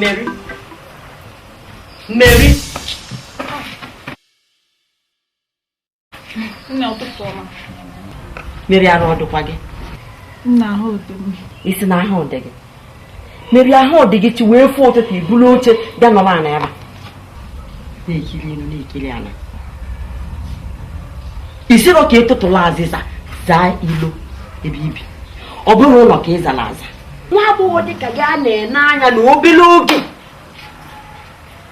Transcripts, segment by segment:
Mary. Mary. Nne ụtụtụ ọma. Mary arụ ọ dịkwa gị. Nne ahụ dị m. Ị sị na ahụ dị gị. Mary ahụ ọ dị gị chi wee fo ụtụtụ i bulu oche bịa nọrọ ana ya na-ekiri elu na-ekiri ana ị sirọ ka ị tụtụlụ azịza zaa ilo ebe i bi ọ bụrụ ụlọ ka ị zara aza nwa agbọghọ dị ka gị a na-ene anya na obere oge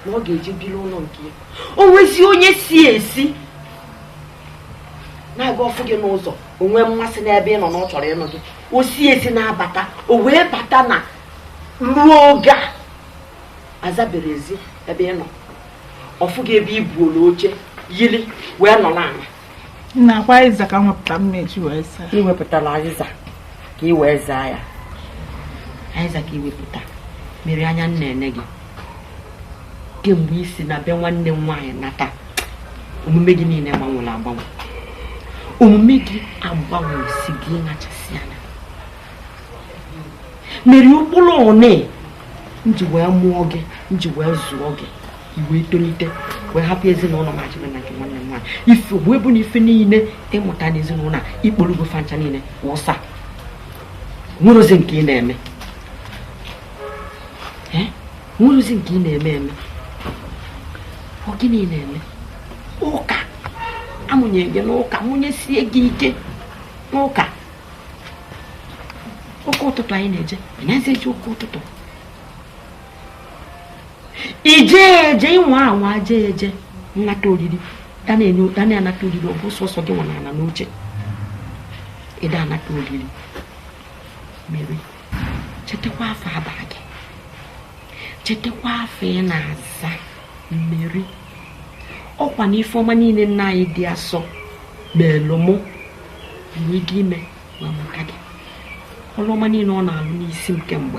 na ọ ga-eji biri ụlọ nke ya o nwezi onye si ezi na-aga ọ fụ gị n'ụzọ o nwee mmasị n'ebe ị nọ na ọ chọrọ ịnụ gị o si ezi na-abata o wee bata na ruo oge a azabero ezi ebe ị nọ ọ fụ gị ebe i bulu oche yiri wee nọ n'ala nne ọ kwa azịza ka m wepụta m eji wee zaa i wepụtala azịza ka ị wee zaa ya azịza ka i wepụta Mary anya m na-ene gị kemgbe i si na be nwanne m nwaanyị nata omume gị niile gbanwere agbanwe omume gị agbanwesigo ịnachasị anya Mary ụkpụrụ one m ji wee mụọ gị m ji wee zụọ gị i wee tolite wee hapụ ezinụlọ m a jebe na nke nwanne m nwaanyị ife wee bụ na ife niile ị mụta n'ezinụlọ a i kpolugo fancha niile wụsa nwerozi nke ị na-eme nwerozi nke ị na-eme eme ọ gịnị na-eme ụka a mụnye gị n'ụka mụnyesie gị ike n'ụka ụka ụtụtụ anyị na-eje ị nazi eje ụka ụtụtụ i je eje ị nwa anwa je eje nnata oriri a na-anata oriri ọ bụ sọsọ gị nwa na-anọ n'oche ị da-anata oriri Mary chetakwa afa a bara gị chetakwa afa ị na-aza Mary ọ kwa na ife ọma niile nne anyị dị asọ meelụ mụ n'ịdị ime wee mụta gị ọlụ ọma niile ọ na-alụ n'isi m kemgbe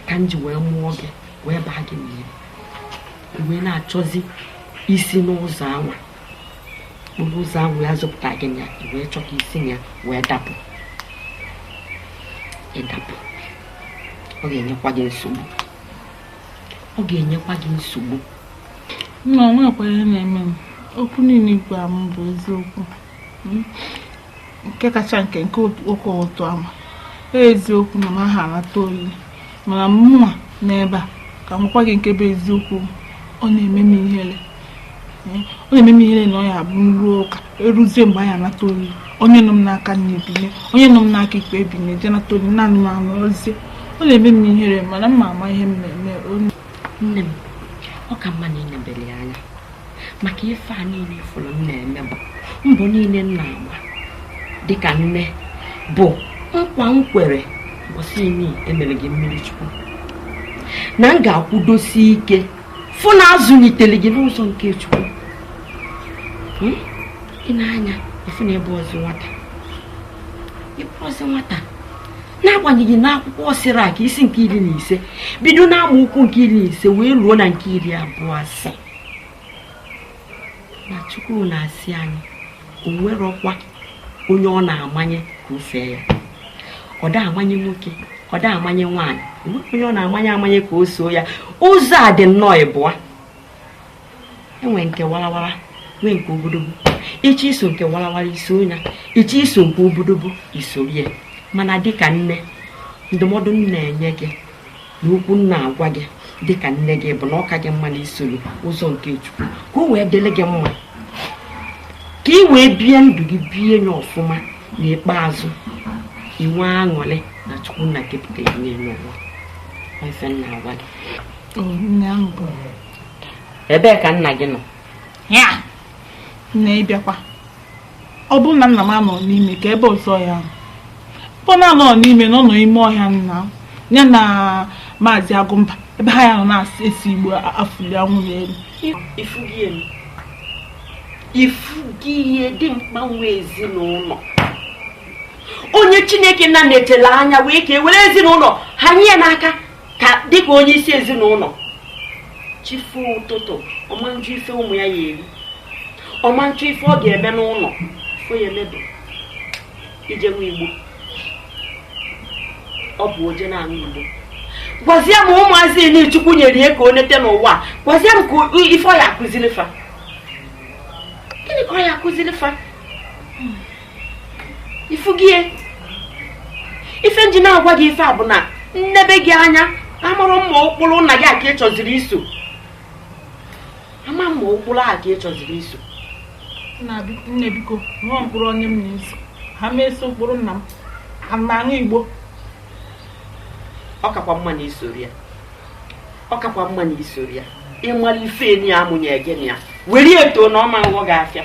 ka m ji wee mụọ gị wee baa gị Mary wee na-achọzi isi n'ụzọ anwa ọ bụ ụzọ ahụ a zụpụta gị na ya i wee chọọ ka i si na ya wee dapụ ị dapụ ọ ga-enyekwa gị nsogbu ọ ga-enyekwa gị nsogbu nne o nwekwa ihe na-eme m okwu niile ị gwara m bụ eziokwu nke kacha nke nke okwu ụtọ ama eziokwu na m aha anata oriri mana mụnwa n'ebe a ka m gwa gị nke bụ eziokwu ọ na-eme m ihere ọ na-eme m ihere na ọ ya abụ m ruo ụka eruzie mgbe a ya anata oriri onye nọ m n'aka nna ebinye onye nọ m n'aka ekpe ebinye je nata oriri naanị m anọzie ọ na-eme m ihere mana m ma ama ihe m na-eme onye nne m ọ ka mma na ịnebere ya anya maka ife a niile ị fụrụ m na-eme bụ mbọ niile m na-agba dịka nne bụ nkwa m kwere mbọsị eni e mere gị mmiri chukwu na m ga-akwụdosi ike fụ na azụlitere gị n'ụzọ nke chukwu hmm? ị na-anụ ya ị fụ na ị bụrọzị nwata ị bụrọzị nwata n'agbanyeghị na akwụkwọ sirak isi nke iri na ise bido n'amaokwu nke iri na ise wee ruo na nke iri abụọ asị na chukwu na-asị anyị o nwerọkwa onye ọ na-amanye ka o fee ya ọ da amanye nwoke ọ da amanye nwaanyị onweghị onye ọ na-amanye amanye ka o soo ya ụzọ adị nnọọ ịbụa e nwee nke warawara nwee nke obodobo ị chọọ iso nke warawara iso ya ị chọọ iso nke obodobo isoro ya mana dịka nne ndụmọdụ m na-enye gị na okwu m na-agwa gị dị ka nne gị bụ na ọ ka gị mma na isoro ụzọ nke chukwu ka o wee dịrị gị mma ka ị wee bie ndụ gị bie nye ọfụma n'ikpeazụ inwe aṅụrị na chukwu nna kepụta ya n'elu ụwa ife m na-agwa gị O, nne ahụ bụ ebee ka nna gị nọ ya nne ịbịakwa ọ bụrụ na nna m anọ n'ime ka ebe ọzọ ya abụ na ọ nọ n'ime na ọ nọ ime ọhịa na ya na maazị agụmba ebe ha ya nọ na-ese igbo afụli anwụrụ n'elu ifugie dimkpa nwe ezinụlọ onye chineke nna netele anya wee kee were ezinụlọ hanye ya n'aka ka dịka onye isi ezinụlọ chi fo ụtụtụ ọ ma nchọ ife ụmụ ya ya eri ọ ma nchọ ife ọ ga-eme n'ụlọ ife ọ ya eme bụ ije ṅụa igbo ọ bụ o je na-aṅụ igbo gwazie m ụmụazị eni chukwu nyere ya ka o nete n'ụwa gwazie m ka ife ọ ya akụziri fa gịnị ka ọ ya akụziri fa ifugie ife m ji na-agwa gị ife a bụ na m nebe gị anya amarọ m ma ụkpụrụ nna gị a ka ị chọziri iso ama m ma ụkpụrụ a ka ị chọziri iso nne biko nwe ụkpụrụ onye m na-eso aha m eso ụkpụrụ nna m a m na-aṅụ igbo ọ kakwa mma na isorọ ya ọ kakwa mma na isorọ ya ịmara ife eni ya amụnye gị na ya were eto na ọ ma nghọ gị afịa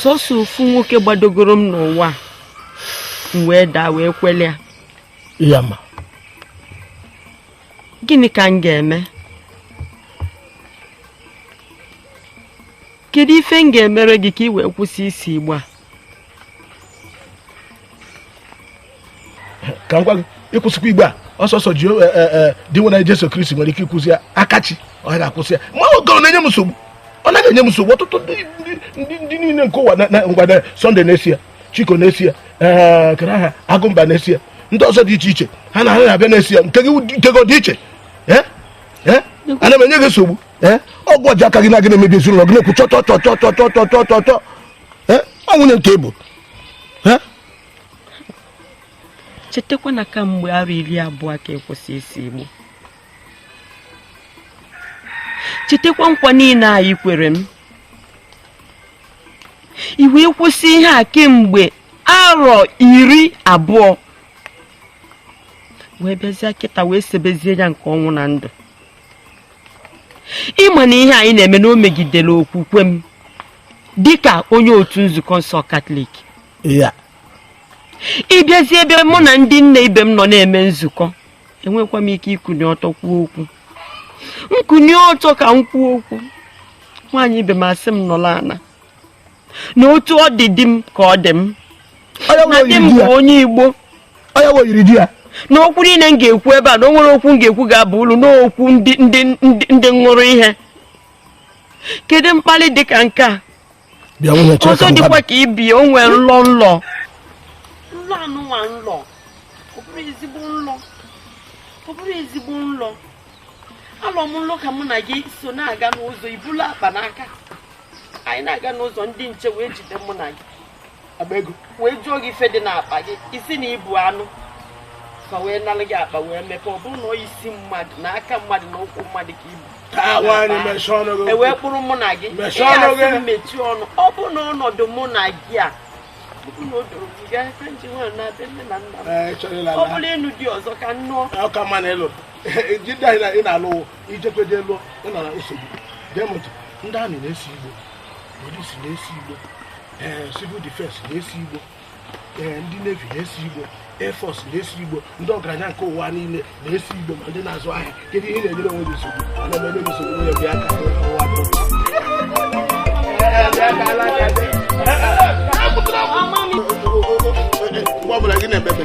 sọsọ ofu nwoke gbadogoro m n'ụwa m wee daa wee kwele ya ma gịnị ka m ga-eme kedu ife m ga-emere gị ka ị wee kwụsị isi igbo a ka m gwa gị ịkwụsịkwa igbo a ọ sọsọ ji e, e, e, Dinwenụ Jesu Kristi nwere ike ịkwụsị ya akachi ọ ga-akwụsị ya ma oge ọ na-enye m nsogbu ọ naghị enye m nsogbu ọtụtụ ndị niile nke ụwa na ngwada Sọnde na-esi ya Chiko na-esi ya kere aha Agụmba na-esi ya ndị ọzọ dị iche iche ha na-abịa na-esi ya nke gị dị iche ana m enye gị nsogbu ọgwụ ọjọọ aka gị na gị na-emebi ezinụlọ gị na-ekwu chọchọchọchọchọchọchọchọ ọ nwunye nke bụ chetakwa na kamgbe arọ iri abụọ ka ị kwụsị isi igbo chetakwa nkwa niile a ị kwere m i wee kwụsị ihe a kemgbe arọ iri abụọ wee bịazie kịta wee sebezie ya nke ọnwụ na ndụ ị ma na ihe a ị na-eme na o megidere okwukwe m dịka onye otu nzukọ nsọ katọlik ị bịazie ebe mụ na ndị nne ibe m nọ na-eme nzukọ enwekwa m ike ikuni ọtọ kwuo okwu m kunie ọtọ ka m kwuo okwu nwaanyị ibe m asị m nọlụ ana na otu ọ dị di m ka ọ dị m na di m bụ onye igbo na okwu niile m ga-ekwu ebe a na o nwere okwu m ga-ekwu ga-aba ulu n'okwu ndị ṅụrụ ihe kedu mkpali dị ka nke a ọzọ dịkwa ka ibi o nwee nlọ nlọ nlọ anụnwa nlọ ọ bụrọ ezigbo nlọ ọ bụrọ ezigbo nlọ alọ m nlọ ka mụ na gị so na-aga n'ụzọ i bulu akpa n'aka anyị na-aga n'ụzọ ndị nche wee jide mụ na gị akpa ego wee jụọ gị ife dị n'akpa gị ị sị na i bu anụ fa wee nalụ gị akpa wee mepee ọ bụrụ na ọ isi mmadụ na aka mmadụ na ụkwụ mmadụ ka i bu taa nwaanyị mechie ọnụ gị e wee kpụrụ mụ na gị Mechie ọnụ gị. ị ga-asị m mechie ọnụ ọ bụ na ọnọdụ mụ na gị a ọ bụ na o doro gị gaa ka m ji nwayọ naa be nne na nna m Ee, chọrọ ịla ọ ala. bụrụ ịnụ di ọzọ ka m nụọ ọ ka mma na ịlụ ji ndị anyị na- ị na-alụ wụ ijekweje lụọ ị nọ na nsogbu gee m ntị ndị army na-esi igbo police na-esi igbo ee eh, civil defense na-esi igbo ee eh, ndị navy na-esi igbo air force na-esi igbo ndị ọgaranya nke ụwa niile na-esi igbo ma ndị na-azụ ahịa kedu ihe na-enyere onwe gị nsogbu ana m enye nsogbu onye bịa ka ụwa mgbe ọ bụla gị na-ebebe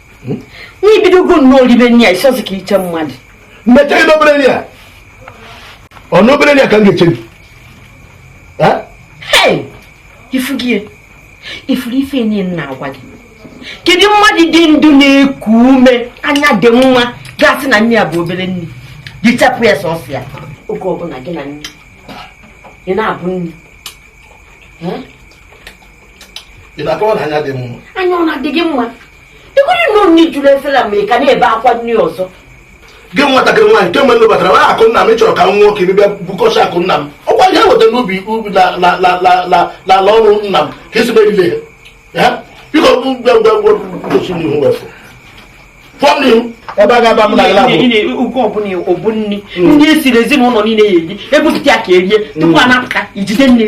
hmm? nna ibidogo nnọọ ribe nri a ịsọzi ka iche mmadụ mmecha ibe obere nri a ọ na obere nri a ka m ga-eche gị ifugo ifuru ife niile m na-agwa gị kedu mmadụ dị ndụ na-eku ume anya dị mma ga-asị na nri a bụ obere nri richapụ ya sọsọ ya oge ọbụla gị na nri ị na-ebu nri ị na-akọwa na anya dị mma anya ọ na-adị gị mma ịhụrụ na nri juru efere a ma ị ka na-ebe akwa nri ọzọ gị nwatakịrị nwaanyị kemgbe unu batara n'akụ nna m chọrọ ka m nwụọ ka bịa bukọcha akụ nna m ọkwa ihe weta n'ubi ubi n'ala ọrụ nna m ka esi merire ya biko gosi m ihu wefụ ọ bụ nni ndị esiri ezinụlọ niile ya-eri ebupụta ya ka erie tupu a na-apụta ijide nni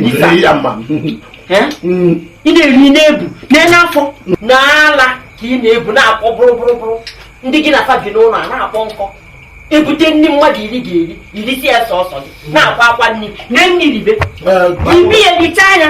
ị na-eri na-ebu nee afọ n'ala ka ị na-ebu na-akpọ bụrụ bụrụ bụrụ ndị gị na fa bi n'ụlọ a na-akpọ nkụ ebute nri mmadụ iri ga-eri irisi ya sọsọ gị na-akwa akwa nri na nri ribe ị bịa richa ya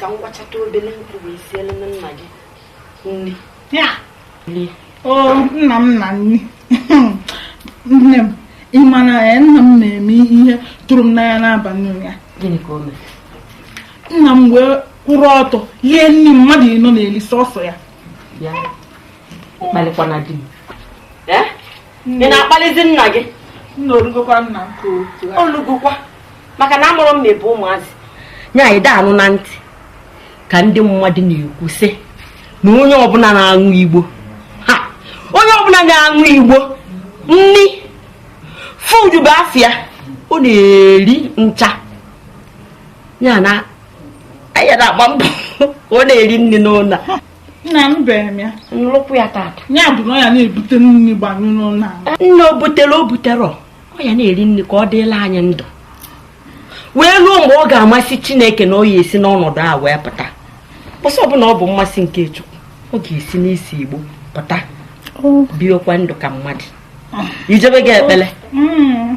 ka m wachata obele nkụ bịa sielu nna gị nri o nna m na nri nne m ị ma na nna m na-eme ihe tụrụ m n'anya n'abalị ụnyaa nna m wee kwụrụ ọtọ lie nri mmadụ ịnọ na-eli sọsọ ya akpalikwana di m Eh? ị na-akpalizi nna gị nna orugokwa nna m ka otu a olugokwa maka na anụrụ m n'ebe ụmụazị nya anyị da-anụ na ntị ka ndị mmadụ na-ekwu sị na onye ọbụla na-aṅụ igbo ha onye ọbụla na-aṅụ igbo nri fudu bụ afịa ọ na-eri ncha ya na anyị na-agba mbọ ka ọ na-eri nri n'ụlọ nna m bere m ya nnukwu ya tata ya bụ na ọ ya na-ebute nri gbanyụ n'ụlọ anyị nne o butere o buterọ ọ ya na-eri nri ka ọ dịlị anyị ndụ wee ruo mgbe ọ ga-amasị chineke na ọ ya esi n'ọnọdụ a wee pụta sọ ọ bụlụ na ọ bụ mmasị nke chukwu ọ ga-esi n'isi igbo pụta biekwa ndụ ka mmadụ ijebego ekpele Mm.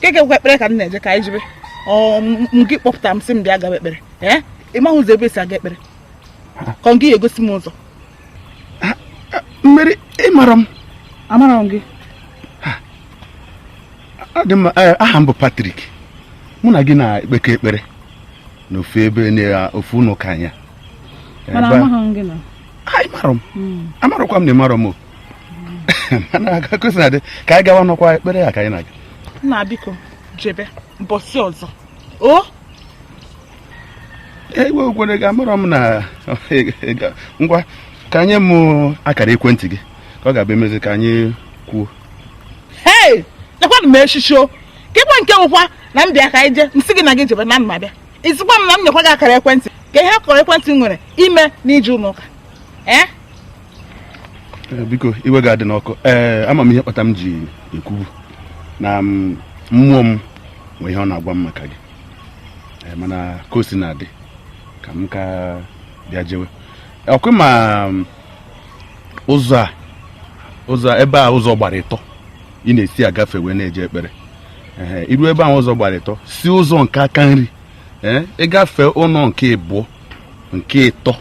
keekwa ekpere ka m na-eje ka anyị jebe gị kpọpụta m sị m bịa gaba ekpere ee ị maghị ụzọ ebe esi aga ekpere ka ọ gị ya-egosi m ụzọ Mary ịmarọ m amarọ m gị eh, aha m bụ Patrick mụ na gị na-ekpekọ ekpere n'ofe ebe n'ofe ụlọ ụka anyị mana ama m gị ịmarọ m amarọkwa m na ịmarọ m na-aga ka anyị gawa n'ọkwa ekpere ya ka anyị na-aga nna biko jebe mbọsị ọzọ o ewe okwere gị amarọ m na ngwa ka nye m akara ekwentị gị ka ọ ga-abụ emezi ka anyị kwuo hei lekwanụ m echichi o keekwa nke wụkwa na m bịa ka anyị jee nsị gị na gị jebe na m abịa isikwa m na m nyekwa gị akara ekwentị kee ihe akara ekwentị nwere ime n'ije ụlọ ụka ee eh? Eh, biko iwe gị adịna ọkụ ee eh, ama m ihe kpata m ji ekwu bụ na mm, mmụọ m nwee ihe ọ na-agwa m maka gị eh, mana ka o si na-adị ka m ka bịa jewe ọkwa ịma mm, ụzọ a ụzọ ebe a ụzọ gbara ịtọ ị na-esi agafe wee na-eje ekpere iruo ebe ahụ ụzọ gbara ịtọ si ụzọ nke aka nri ịgafe ụlọ nke ịbụọ nke ịtọ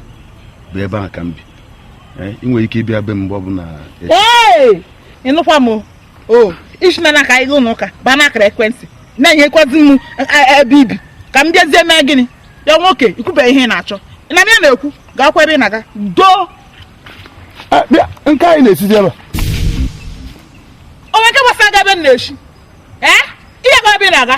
bụ ebe ahụ ka m bi Eh, ị nwere ike ịbịa be m mgbe ọbụla ee ịnụkwa m o isi na ka anyị gaa ụlọ ụka baa n'akara ekwentị na-enyekwazi m ebe ibi ka m bịazie mee gịnị ya nwoke ikwube ihe ị na-achọ ị na ya na-ekwu gaakwa ebe ị na-aga doo ah, nke a ị na-esizi ebe a onwe nke gbasara gị ebe m na-esi ee eh? gaakwa ebe ị na-aga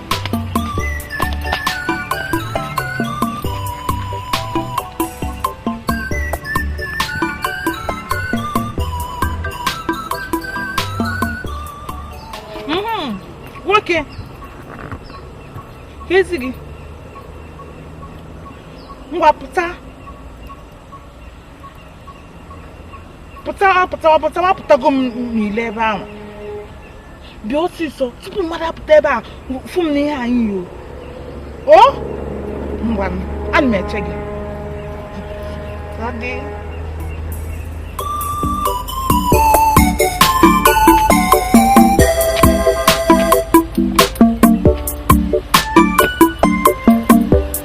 Mhm. nwoke keezi gị ngwa pụta pụtawa pụtawa pụtawa apụtago m n'ilo ebe ahụ bịa ọsịsọ tupu mmadụ apụta ebe a fụ m n'ihe anyị yi o ngwa ana m eche gị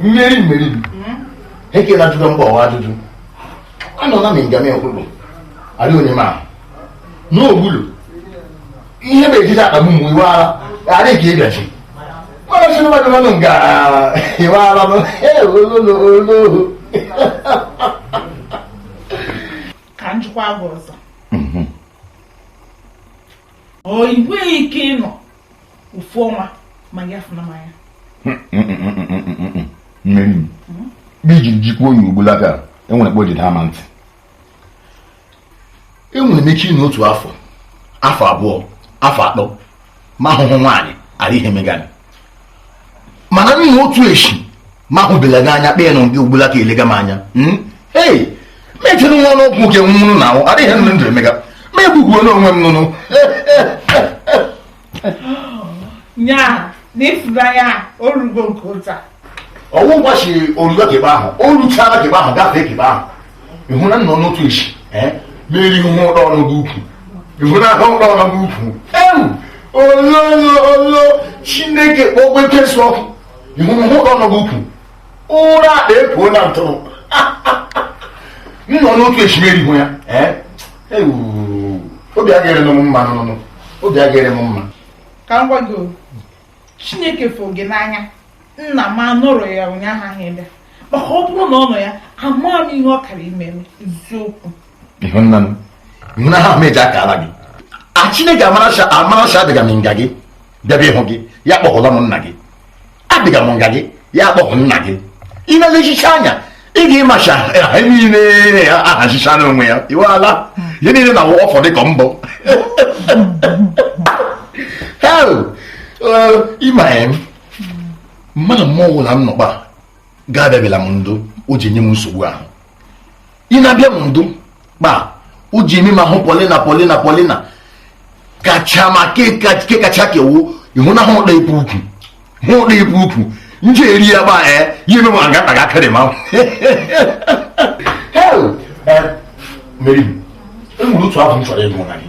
mmeri mmeri ekela ajụjụ mgbawa ajụjụ anọ na m ngame nkwụrụ adị onye ma n'ogbulu ihe na-ejide akpagbu mgbe iwe ara adị ka ịbịachi mana si mmadụ mmadụ nga iwe ara m ololo ololo ka njikwa gị ọzọ ọ inweghị ike ịnọ ofu ọnwa ma gị afụna m anya mmeri m iji jikwuo onye ọbụla ka enwere kpo jide ama ntị enwere m ike ịnọ otu afọ afọ abụọ afọ atọ ma ahụhụ nwaanyị adịghị ihe mega m mana nụnụ otu eshi m ahụbela gị anya kpee nọ gị ugbula ka elega m anya hmm? ee mechere nwa ọnụ ọgwụ nke nwụrụ na ahụ adịghị ihe ndụ emega m egbugbuonụ onwe m nụnụ nya na ịfụnanya orugo nke ụta ọ wụ ụbọchị orugo kebe ahụ o ruchara kebe ahụ gafee kebe ahụ ịhụ na nọ n'otu esi m eri hụ ọnụ gị ukwu ịhụ na ahụ ọnụ gị ukwu ewu ololo chineke kpọgbuo ekwensu ọkụ ịhụ na ọnụ gị ukwu ụra akpa epuo na ntụrụ nọ n'otu esi m erihụ ya obi agaghịrị m mma nụnụ obi agaghịrị m mma ka m gwa gị chineke fụ gị n'anya nna m anụrụ ya ụnyaahụ ahụ ebe maka ọ bụrụ na ọ nọ ya amaghị m ihe ọ kara ime m eziokwu ịhụnahụ m eji aka ala gị a chineke amaracha amaracha adịga m nga gị bịaba ịhụ gị ya kpọhụla m nna gị abịga m nga gị ya kpọhụ nna gị ị na-elechicha anya ị ga-ịmacha ha niile ha ahazicha n'onwe ya iwe ala ihe niile na awụ ọfọ dịka mbọ hel ịma ya mmadụ mmụọ ọbụla m nọkpa ga-abịabịala m ndụ o ji nye m nsogbu ahụ ị na-abịa m ndụ kpa o ji eme m hụ polina polina polina kacha ma ke kacha kewu ịhụnahụ ụda ibu ukwu hụ ụda ibu ukwu nje eri ya gba ee ya eme ma ngata ga akadị ma mmeri m enwere otu abụ m chọrọ ịgụ na gị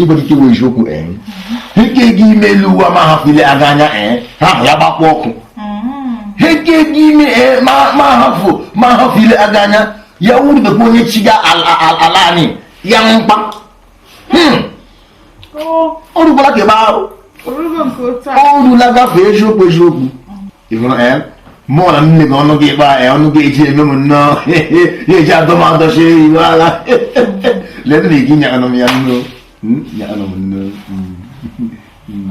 ịgbalite iwe eziokwu ike gị ime elu uwe ma hapụ ile aga anya ha hụ ya gbakwa ọkụ ike gị ime ma hapụ ile aga anya ya wuru onye chi ga ala anyị ya mkpa hmm. o rubala ke ebe ahụ o rula gafee eziokwu eziokwu eh? mụ na nne gị ọnụ gị ịkpa ya ọnụ gị eji eme m nnọọ ya eji adọ m adọchi iwe ala lee nne gị nyakanụ m ya nnọọ hmm? nyakanụ m nnọọ hmm.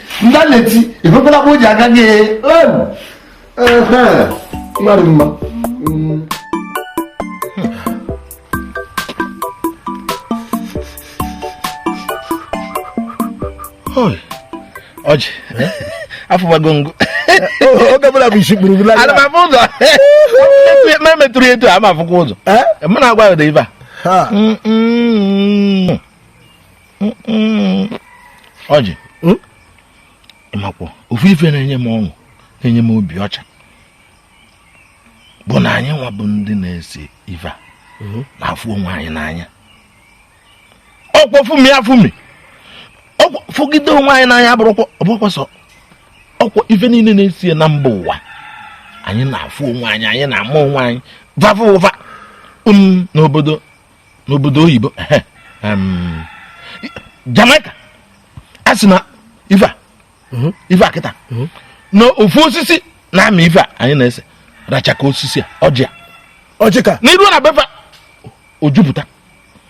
ndị a na-eti ebekwala bụ ji aga gị mmadụ mma ọjị afụbago ngụ oge bụla bụ isi kpuru bụla ana m afụ ụzọ ma emetụrụ etu a ma afụkwa ụzọ mụ na-agwa ya ụdị ife a ọjị hmm? ị makwa ofu ife na-enye m ọṅụ na-enye m obi ọcha bụ na anyị nwa bụ ndị na-ese ife a hmm? na-afụ onwe anyị n'anya ọkwa fụmie afụmie fụgide onwe anyị n'anya bụrụkwa ọ bụkwa sọ ọkwa ife niile na-esi na mba ụwa anyị na-afụ onwe anyị anyị na-ama onwe anyị vava ụva um, n'obodo n'obodo oyibo em, Jamaica a sị na ife a ife a kịta na ofu osisi na-amị ife a anyị na-ese racha ka osisi a ọjị a ọjị ka na i ruo na be fa o jupụta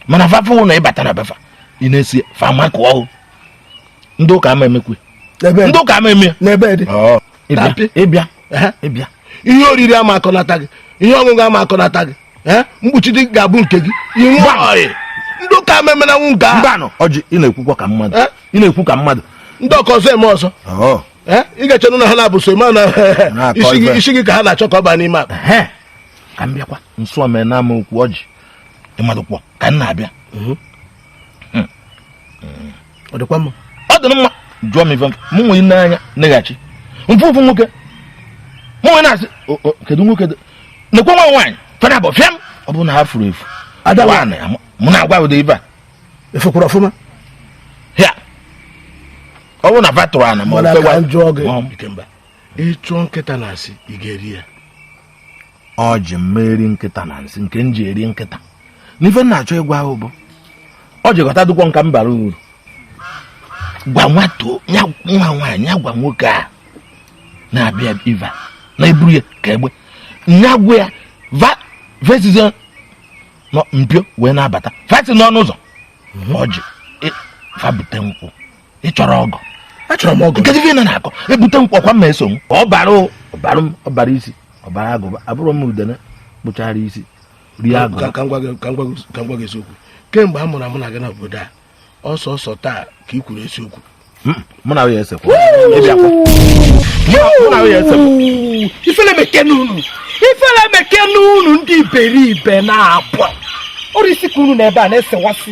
mana fa fụ na ị bata na be fa ị na-ese fa makụọ ọhụ ndị ụka ama emekwe ebe ndị ụka ama eme ya n'ebe dị ịbịa ịbịa ịbịa ihe oriri ama akọnata gị ihe ọṅụṅụ ama akọnata gị eh? mkpuchite ga-abụ nke gị ndị ụka ama emenanwu nke ahụ mbanụ ọjị ị na-ekwukwa ka mmadụ eh? ị na-ekwu ka mmadụ ndị ọka ọzọ eme ọzọ oh. eh? ị ga-echenụ na ha na-abụ so mana isi gị ka ha na-achọ ka ọ baa n'ime akpa ka m bịakwa nso mee na ama okwu ọjị ị madụkwọ ka m na-abịa mhm. hmm. ọ dịkwa mma ọ dị mma jụọ m ife mụ wee nee anya neghachi m fụ ofu nwoke mụ wee na-asị kedu nwoke nekwe nwa nwaanyị fa naabọ fịam ọ bụrụ na ha furu efu mụ na-agwa ụdị ife a ị fụkwara ọfụma ya ọ bụrụ na va tụrụ ana ma ọ ka m jụọ gị Ikemba ị chụọ nkịta na nsị ị ga-eri ya ọjị m ma eri nkịta na nsị nke m ji eri nkịta n'ife m na-achọ ịgwa ahụ bụ ọjị ghọtadụkwọ nka m bara uru gwa nwata nwa nwaanyị ya gwa nwoke a na-abịa ebe a na-eburu ya ka egbe nya gwa ya va esizina mpio wee na-abata fa si n'ọnụ ụzọ ọjị e, fa bute nkwụ ị chọrọ ọgọ achọrọ m ọgọ kedu ife ị na-akọ e bute nkwụ ọkwa m ma eso m ọ bara ọ bara m ọ bara isi ọ bara agụba abụrụ m udene kpụchara isi rie agụ ka m gwa gị eziokwu kemgbe a mụrụ mụ na gị na obodo a ọ sọsọ taa ka ị kwuru eziokwu hmm, mụ na ya esekwa ifele meke n'unu ifele meke n'unu ndị iberibe na-abụ ọrụ isi ka unu na ebe a na-esewasị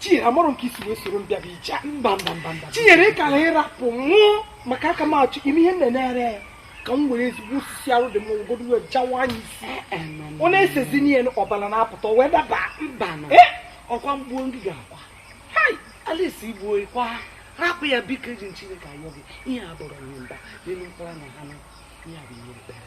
Chinyere amụrụ nke i si wee soro m bịa bụ ije mba mba mba mba Chinyere ị kara ịrapụ mụ maka aka m achọ ime ihe m na-enegharị ya ka m were ezigbo osisi arụ dị m ngwogodo wee jawaa ya isi eh, eh, ọ na-esezi n'ihe ọbara na-apụta wee daba mba eh, ọkwa m gbuo ndị ga-akwa Alice i gbuo ị kwa rapụ ya biko eji m Chineke ayọ gị ihe a bụrụ ihe mba n'elu mkpụrụ na ha ihe a bụ ihe ekpere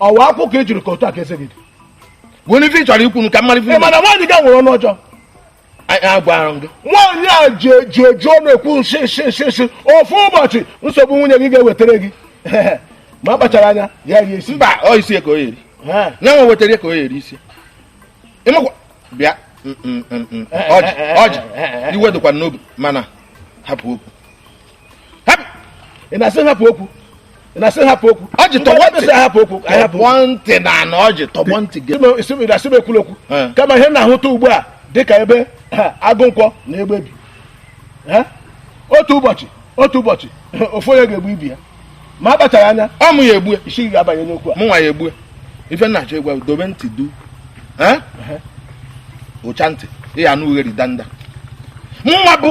ọwa akwụkwọ ka ejiri ka otu a ka eze gị dị were ife ị chọrọ ikwu m ka mmadụ ife mana nwaanyị gị a nwere ọnụ ọjọọ agwara m gị nwaanyị a ji eji ọnụ ekwu nshi nshi nshi nshi ofu ụbọchị nsogbu nwunye gị ga-ewetara gị ma a kpachara anya ya rie isi mba ọ isi ka ọ ya-eri ya nwa wetara ka ọ ya-eri isi ị makwa bịa Ọjị Ọjị iwe dịkwa n'obi mana hapụ okwu ị na-asị hapụ okwu ị na-asị hapụ okwu Ọjị tọgbọ ntị hapụ okwu ahapụ ntị na ana Ọjị tọgbọ ntị gị ị na-asị m ekwula okwu kama ihe m na-ahụta ugbu a dị ka ebe agụ nkwọ na egbe bi otu ụbọchị otu ụbọchị ofu onye ga-egbu ibe ya ma a kpachara anya ọ mụ ya-egbu e isi ga-abanye n'okwu a mụ nwa ya-egbu e ife m na-achọ ịgwa dobe ntị duu ị chaa ntị ị ya-anụ ughere danda mụnwa bụ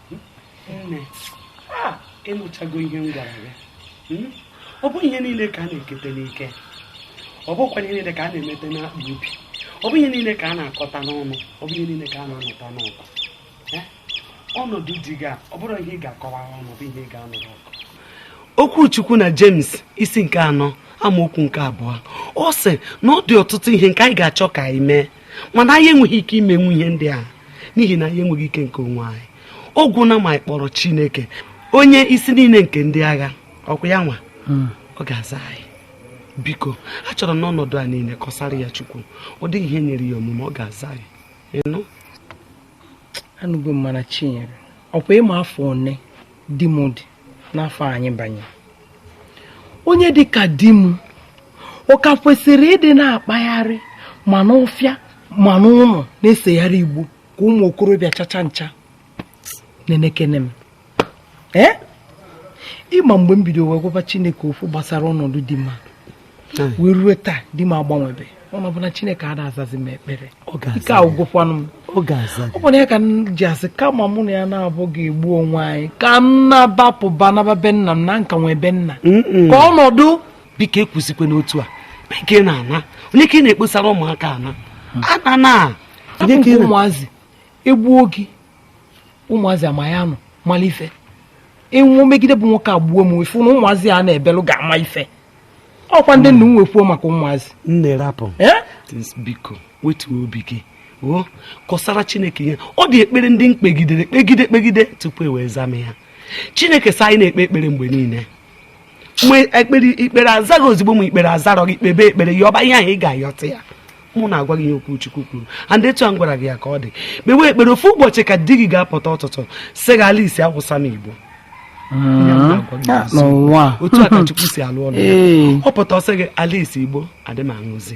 ị nụchago ihe m gwara ya hmm? ọ bụ ihe niile ka a na-ekete n'ike ọ bụkwa ihe niile ka a na-emete n'akpa obi ọ bụ ihe niile ka a na-akọta n'ọnụ ọ bụ ihe niile ka a na-anụta n'ọgụ eh? ọnọdụ di gị a ọ bụrọ ihe ị ga-akọwa ọnụ bụ ihe ị ga-anụrụ ọgụ okwu Chukwu na James isi nke anọ amaokwu nke abụọ ọ sị na ọ dị ọtụtụ ihe nke anyị ga-achọ ka anyị mee mana anyị enweghị ike imenwu ihe ndị a n'ihi na anyị enweghị ike nke onwe anyị ọ gwụna ma anyị kpọrọ Chineke onye isi niile nke ndị agha ọkwa ya nwa hmm. ọ ga-aza anyị biko achọrọ m n'ọnọdụ a niile kọsara ya Chukwu ọ dịghị ihe nyịrị ya omume ọ ga-aza anyị ị nụ anụgo m mana Chinyere ọkwa ị ma afọ one di m dị n'afọ anyị banye onye dị ka di m ọ ka kwesịrị ịdị na-akpagharị ma n'ọfịa ma n'ụlọ na-esegharị igbo ka ụmụ okorobịa chacha ncha nenekene m ee ị ma mgbe m bido wee gwaba Chineke okwu gbasara ọnọdụ di m a wee rue taa di m agbanwebe ọ na-abụ na Chineke ada azazi m ekpere ike agwụgokwanụ m ọ bụ na ya ka m ji asị kama mụ na ya naabọ ga-egbu onwe anyị ka m naba pụba naba be nna m na m ka nwee be nna ka ọ nọdụ biko ekwuzikwena otu a biko ị na-ana onye ka ị na-ekposara ụmụaka ana ana na ụmụazị egbuo gị ụmụazị ama ya nọ mara ife ịnwụ megide bụ nwoke agbuo m ifu na ụmụazị a na-ebelụ ga-ama ife ọkwa ndị nna m wee kwuo maka ụmụazị nne rapụ biko wetuo obi gị kọsara chineke ihe ọ dị ekpere ndị m kpegidere kpegide kpegide tupu o wee zaa m ya chineke sị anyị na-ekpe ekpere mgbe niile ekpere i kpere azaghị ozugbo ma i kpere azarọ gị kpebe ekpere yọba ihe ahụ ị ga-ayọta ya mụ na-agwa gị ihe okwu Chukwu kwuru and etu a m gwara gị ya ka ọ dị kpewe ekpere ofu ụbọchị ka di gị ga-apụta ụtụtụ sị gị Alice akwụsịla m igbo ah, ah, otu a ka Chukwu si alụ ọlụ ọ pụta ọ sị gị Alice igbo adị m aṅụzi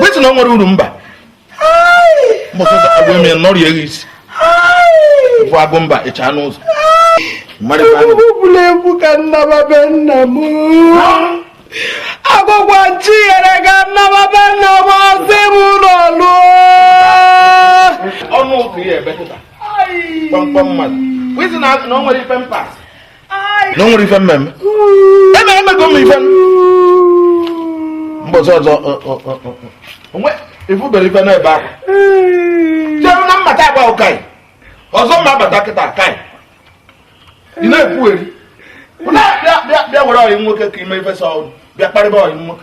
wetin na o nwere uru mba mbọsọsọ agwa eme nọrọ ya isi bụ Agụmba ịcha n'ụzọ egwuregwu ka m naba be nna m agwakwa m Chinyere ka m naba be nna m ọ sị m ụlọ lụọ ọnụ ụka ya ebe kịta kpamkpam mmadụ wee sị na o nwere ife m pass na o nwere ife m meme eme emego m ife mbọsị ọzọ o nwe i fubere ife n'ebe ahụ jeru na mmata agba ụkaị ọzọ mma abata kịta ka ị na-ekwugheri bịa were ọyị nwoke ka i me ife sọ bịa kparịba ọyị nwoke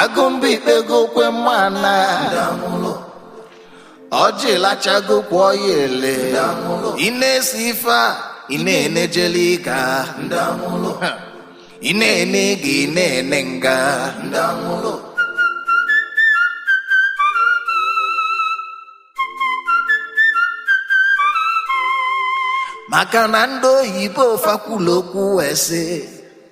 Agụmba i kpegokwe mana ọjị lachago kwụọ ya ele ị na-esi ife a ị na-ene jail ịga ị na-ene ịga ị na-ene nga maka na ndị oyibo fa kwulu okwu wee sị